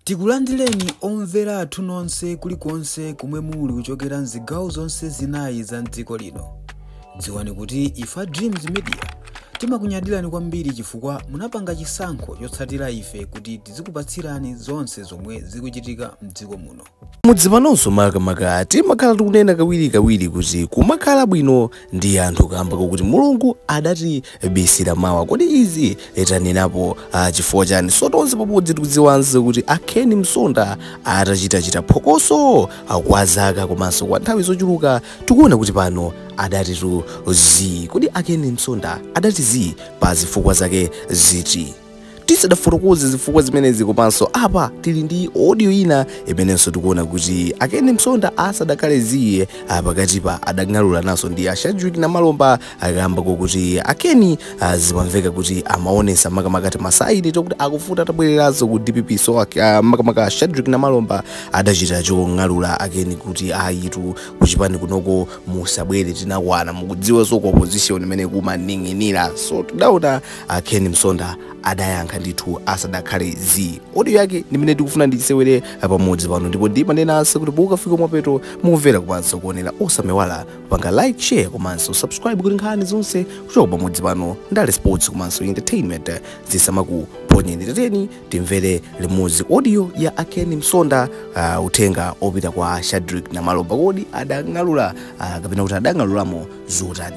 Tikulandireni omvera athu nonse kulikonse komwe muli kuchokera mzigawo zonse zinayi za mdziko lino. Dziwani kuti ife a Dreams Media timakunyadirani kwambiri chifukwa munapanga chisankho chotsatira ife kuti tizikupatsirani zonse zomwe zikuchitika mdziko muno. Mudzi panonso makamaka timakhala tikunena kawirikawiri kuti kumakhala bwino ndi anthu kaamba kakuti Mulungu adatibisira mawa. Kodi izi tanenapo ah, chifukwa chani? So tonse pamodzi tikudziwanso kuti a Ken Msonda atachitachita phokoso ah, kwa zaka komanso kwa nthawi zochuluka tikuona kuti pano adatitu zii. Kodi a Ken Msonda adati zii pa zifukwa zake ziti? tisadafotokoze zifukwa zimenezi komanso apa tili ndi audio ina imenenso tikuona kuti a ken msonda asadakhale zii pakatipa adang'alulanaso ndi a shadrick namalomba kaamba kokuti a ken ah, zimamveka kuti amaonesa makamaka timasaini tokuti akufuna atabwereranso ku dpp so ak- ah, makamaka a shadrick namalomba adachita chong'alula a ken kuti ayitu kuchipani kunoko musabwere tinakwana mukudziwanso ku opposition imene kumaning'inira so tidaona a ken msonda adayankha ndithu asadakhale zii audio yake ndimene tikufuna ndisewere pamodzi pano ndipo ndimanenanso kuti mukafika mapeto mukumvera komanso kuonera osamaiwala kupanga like share komanso subscribe kuti nkhani zonse kuchoka pamodzi pano ndale sports komanso entertainment zisamakuponyeni tiyeni timvere limodzi audio ya a ken msonda uh, uthenga opita kwa shadrick namalomba kodi adang'alula uh, kapena kuti adang'alulamo zotani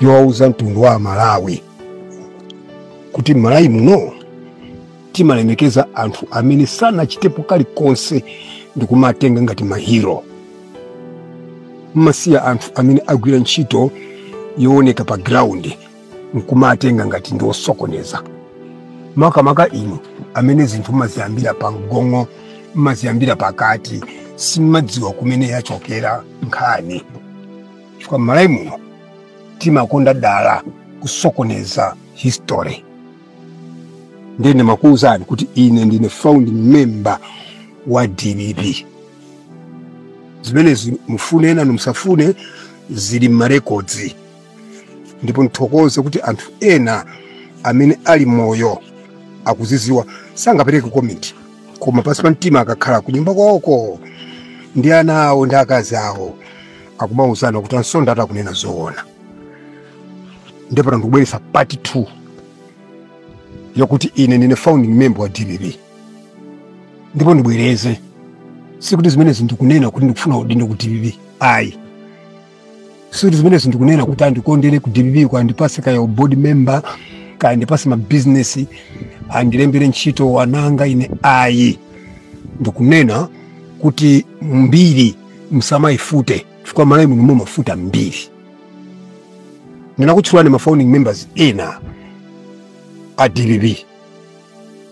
yowauza mtundu wa amalawi kuti m'malawi muno timalemekeza anthu amene sanachitepo kalikonse ndi kumawatenga ngati mahiro nkumasiya anthu amene agwira ntchito yooneka pa ground nkumawatenga ngati ndi osokoneza makamaka inu amene zinthu mmaziyambira pa mgongo mmaziyambira pakati simmadziwa kumene yachokera nkhani chifukwa m'malawi muno timakonda dala kusokoneza history ndiye ndimakuwuzani kuti ine ndine founding member wa dpp zimenezi mufune nanu musafune zili m'marekodzi ndipo ndithokoze kuti anthu ena amene ali moyo akuziziwa sangapereke komenti koma pansi pa mtima akakhala kunyumba kwawoko ndi ana awo ndi akazi awo akumauzana kuti a msonda atu akunena zoona ndipo ndikubweretsa part 2 yokuti ine ndine founding member wa dpp ndipo ndibwereze sikuti zimenezi ndikunena kuti ndikufuna udindo ku dpp ayi sikuti zimenezi ndikunena kuti andikondere ku dpp kwa andipase kaya u board member kaya andipase mabizinesi andilembere ntchito ananga ine ayi ndikunena kuti mbiri musamayifute chifukwa Malawi muno mumafufuta mbiri ndinakutchulirani ma founding members ena a dpp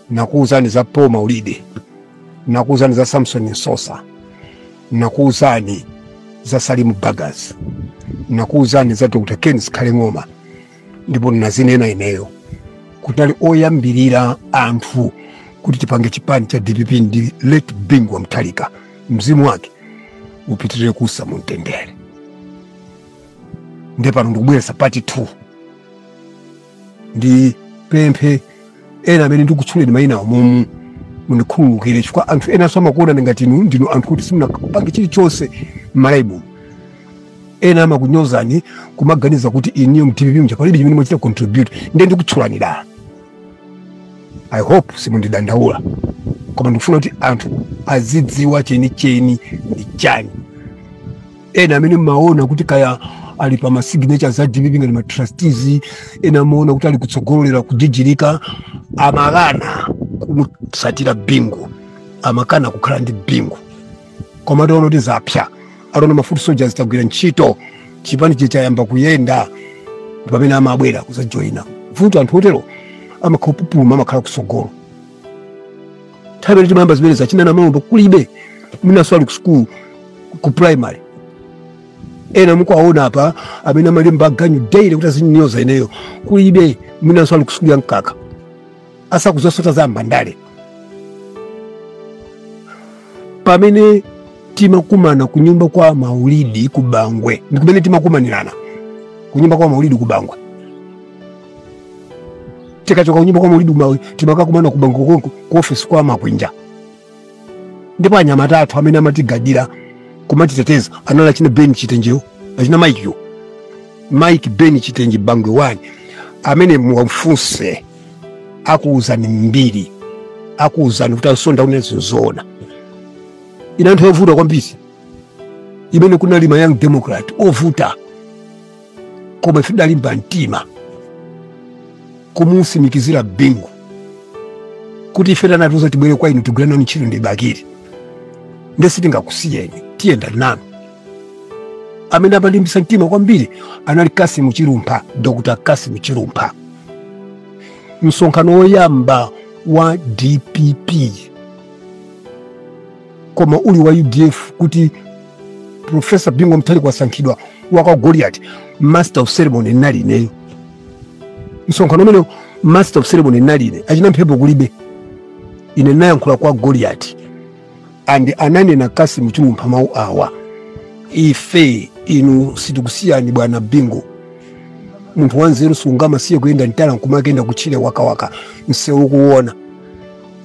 nakuuzani za Paul Maulidi, nakuuzani za Samson Msosa, nakuuzani za Salimu Bagus, nakuuzani za Dr. Ken Zikhale Ng'oma, ndipo nazinena ineyo kuti anali oyambirira anthu kuti tipange chipani cha DPP ndi late Bingu wa Mutharika, mzimu wake upitirire kuusa mumtendere. Nde pano ndikubweretsa pati 2 ndipemphe ena amene ndikutchuleni mayina awo momuno mundikhululukire chifukwa anthu enanso amakuonani ngati inu ndinu anthu kuti simunapange chilichonse m'Malawi muno ena amakunyozani kumaganiza kuti inuyo mu dpp muja palibe chimene mwachita contribute ndiye ndikutchulani dala i hope simundidandaula koma ndikufuna kuti anthu azidziwa chenicheni ndi chani ena amene mmaona kuti kaya ali pa masignature za dpp ngati matrustees ena amaona kuti ali kutsogolera kujijirika amakana kumusatira bingu amakana kukhala ndi bingu koma ataona kuti zapsa ataona ma foot soldiers tagwira ntchito chipanichi chayamba kuyenda mpamene amabwera kuzajoyina vuto anthu otero amakapupuluma amakhala kusogolo nthawi imene timayamba zimenezi achina namalomba kulibe mwinanso ali ku school ku primary ena mukuwaona apa amene amalemba ganyu daily kuti azinyoza ineyo kulibe mwinanso ali ku school ya mkaka asakudziwanso za ndale pamene timakumana kunyumba kwa maulidi ku bangwe ndi kumene timakumanirana kunyumba kwa maulidi ku bangwe tikachoka kunyumba kwa maulidi uja timakakumana ku bangwe konko ku ofesi kwa makwinja ndipo anyamata athu amene amatigadira kumatiteteza anali achina ben chitenjewo achina maikiyo mike ben chitenje bangwe wani amene muwafunse akuwuzani mbiri akuwuzani kuti asonda akunena zoona inali nthawi yovuta kwambiri imene kunali ma young democrat ovuta koma ife tidalimba mtima kumusimikizira bingu kuti ife anatiuza tibwere kwa inu tigwire nanu ntchito ndi bakili nde sitingakusiyeni tiyenda nanu amene amalimbisa mtima kwambiri anali kasimu chilumpha dr kasimu chilumpha msonkhano woyamba wa dpp koma uli wa udf kuti profesa Bingu Mutharika wasankhidwa wakwa goliati master of ceremony nali ineyo msonkhano umenewo master of ceremony nali ine achina mphepo kulibe ine nayankhula kwa goliati and ananena Kassim Chilumpha mawu awa ife inu sitikusiyani bwana Bingu munthu wanzeru sungamasiye kuyenda mtala nkumakayenda kutchire wakawaka msewu ukuona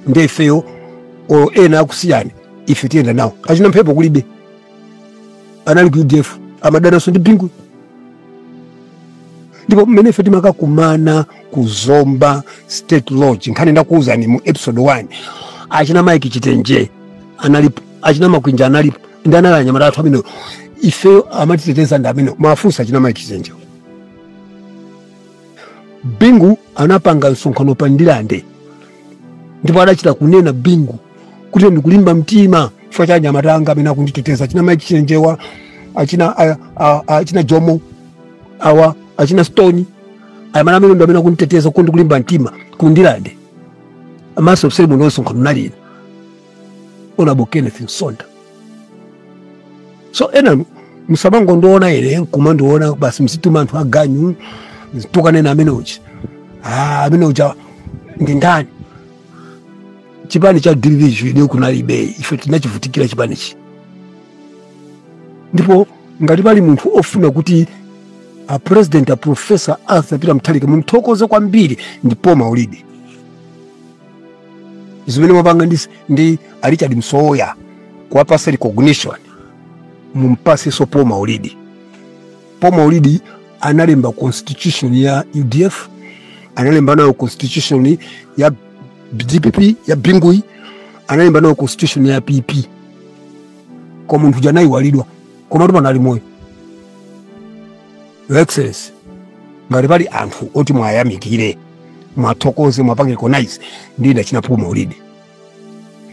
nde ifeyo olo ena akusiyani ife tiyenda nawo achina mphepo kulibe anali ku udf amadananso ndi bingu ndipo mmene ife timakakumana ku zomba state lodge nkhani ndakuwuzani mu episode 1 achina mike chitenje analipo achina makwinja analipo ndi anali anyamata athu amene ifeyo amatiteteza ndi amene mafunsa achina mike chitenje bingu anapanga msonkhano pa Ndirande ndipo adachita kunena bingu kuti ndikulimba mtima chifukwa cha anyamata anga amene akunditeteza achina Mike Chitenjewa achina, a- a- a- achina jomo awa achina stone amiyendo amene akunditeteza kuti ndikulimba mtima ku Ndirande master of ceremony msonkhano nali ine Honourable Kenneth Msonda so enanu musamangondiona ine nkumandiona basi mzituma anthu aganyu azitukana amene uja ah, amene uja ndi ndani chipani cha dpp chi inu kunalibe ife tinachivutikira chipanichi ndipo ngati pali munthu ofuna kuti a president a professor arthur peter mutharika mumthokoze kwambiri ndipo maulidi zimene mwapanga ndi izi ndi a richard msowoya kuwapasa recognition mumpatsenso paul maulidi paul maulidi analemba constitution ya udf analemba nayo constitution ya dpp ya Binguyi analemba nayo constitution ya pp koma munthu uja anaiwalidwa komatu pano ali moyo Your Excellency, ngati pali anthu oti mwayamikire mwathokoze mwapange recognize ndi ndi achina Paul Maulidi.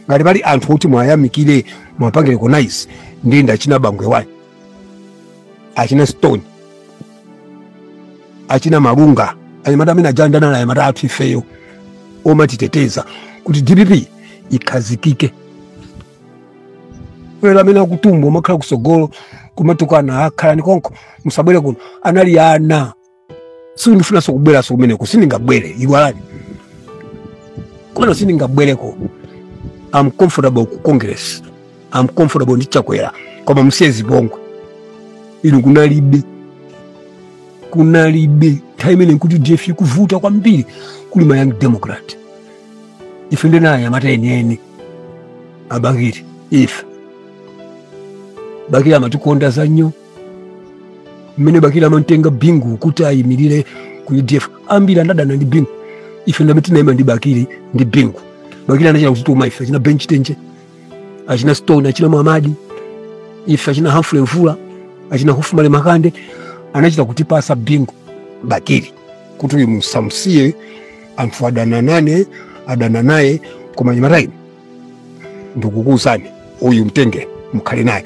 Ngati pali anthu oti mwayamikire mwapange recognize ndi ndi achina Bangwe One, achina Stone, achina Malunga, anyamata amene aja ndi anali anyamata athu ifeyo omatiteteza kuti DPP ikhazikike wera amene akutumbwa kumakhala kutsogolo kumatukana akhalani konko musabwere kuno anali ana sindifunanso kubweranso kumeneko sindingabwere iwalani kumeneko sindingabwereko am comfortable ku congress am comfortable ndi chakwera koma musiye zipongwe inu kunalibe kunalibe nthawi imene nkuti udf ikuvuta kwambiri kuli ma young democrat ife ndi anyamata enieni a bakili ife bakili amatikonda za nnyo mmene bakili amantenga bingu kuti ayimirire ku udf ambiri anadana ndi bingu ife ndamene tinayima ndi bakili ndi bingu bakili anachita kutituma ife achina ben chitenje achina stone achina mwamadi ife achina humphrey mvula achina hophmally makande anachita kutipasa bingu bakili kuti uyu musamusiye anthu adana nane adana naye koma anyamata inu ndikukuuzani uyu mtenge mukhale naye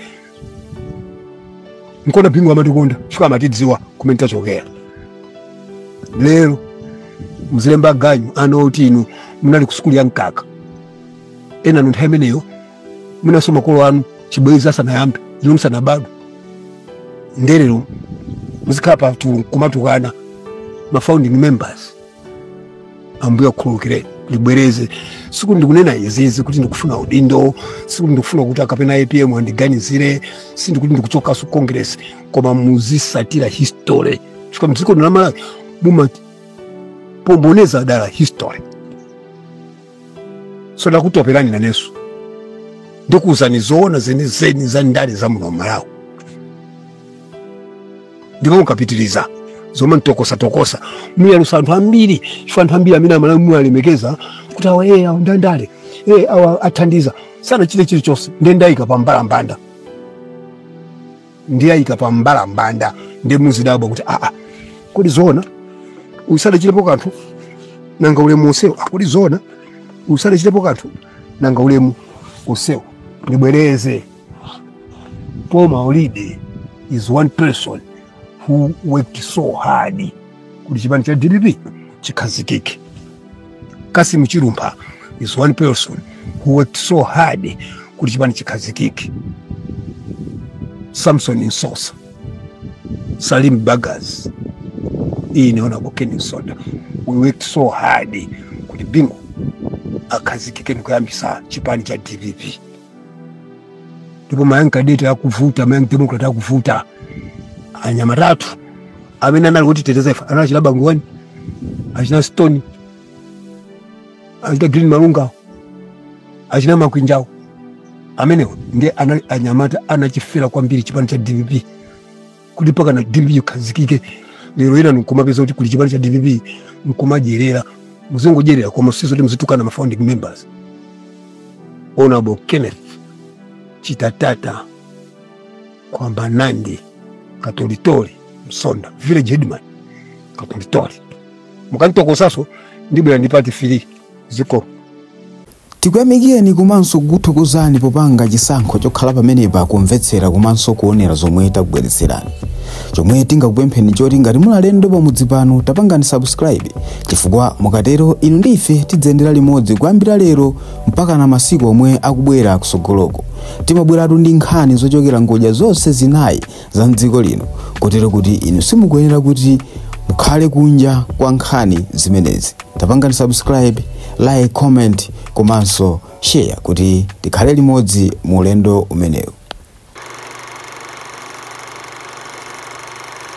nkona bingu amatikonda chifukwa amatidziwa kumene tachokera lero mzilemba ganyu ana oti inu munali ku sukulu ya mkaka enanu nthawi imeneyo mwinanso makolo anu chibwezi asanayambe inu musanabadwe nde lero muzikhala pa chulu kumatukana ma founding members ambuye akhululukireni ndibwereze sikuti ndikunena izizi kuti ndikufuna udindo sikuti ndikufuna kuti akapena apm andiganizire sindikuti ndikuchokaso congress koma muzisatira history chifukwa mdziko lino la malawi mumapomboneza dala history so ndakutopelani nanenso ndikuwuzani zoona zenizeni za ndale za muno malawi ndipo mukapitiriza zomantokosatokosa muyalusa anthu ambiri chifukwa anthu ambiri amene amalawi muwalemekeza kuti awa ee awa ndandale ee awa athandiza sanachite chilichonse nde ndayika pa mbalambanda ndiwayika pa mbalambanda ndiye muzidabwa kuti aa kodi zoona uyu sadachitepo kanthu nanga ulemu wonsewu a kodi zoona uyu sadachitepo kanthu nanga ulemu wonsewu ndibwereze Paul Maulidi is one person who worked so hard kuti chipani cha dpp chikhazikike cassim chilumpha is one person who worked so hard kuti chipani chikhazikike samson msosa salim bagus ine honorable ken msonda we worked so hard kuti bingu akhazikike ndikuyambisa chipani cha dpp ndipo ma young cadet akuvuta ma young democrat akuvuta anyamatatu amene anali kutiteteza ife anali achina bangwe one achina stone achina green malunga achina makwinjawo amenewo ndiye anali anyamata anachifera kwambiri chipani cha dpp kuti mpakana dpp ikhazikike lero ena nkumapeza kuti kuli chipani cha dpp nkumadyerera muzingodyerera koma sizoti muzitukana ma founding members honorable kenneth chitatata kwamba nandi katolitoli msonda village headman katolitoli mukanitokosaso ndibwera ndi part three ziko Tikuyamikireni komanso kukuthokozani popanga chisankho chokhala pamenepa kumvetsera komanso kuonera zomwe takubweretserani. Chomwe tingakupempheni nchoti ngati muli alendo pamudzi pano tapangani subscribe chifukwa mukatero inu ndi ife tidziyendera limodzi kuyambira lero mpakana masiku omwe akubwera kutsogoloko. Timabweratu ndi nkhani zochokera ngodya zonse zinayi za mdziko lino kotero kuti inu simukuyenera kuti mukhale kunja kwa nkhani zimenezi tapangani subscribe like comment komanso share kuti tikhale limodzi mu ulendo umenewu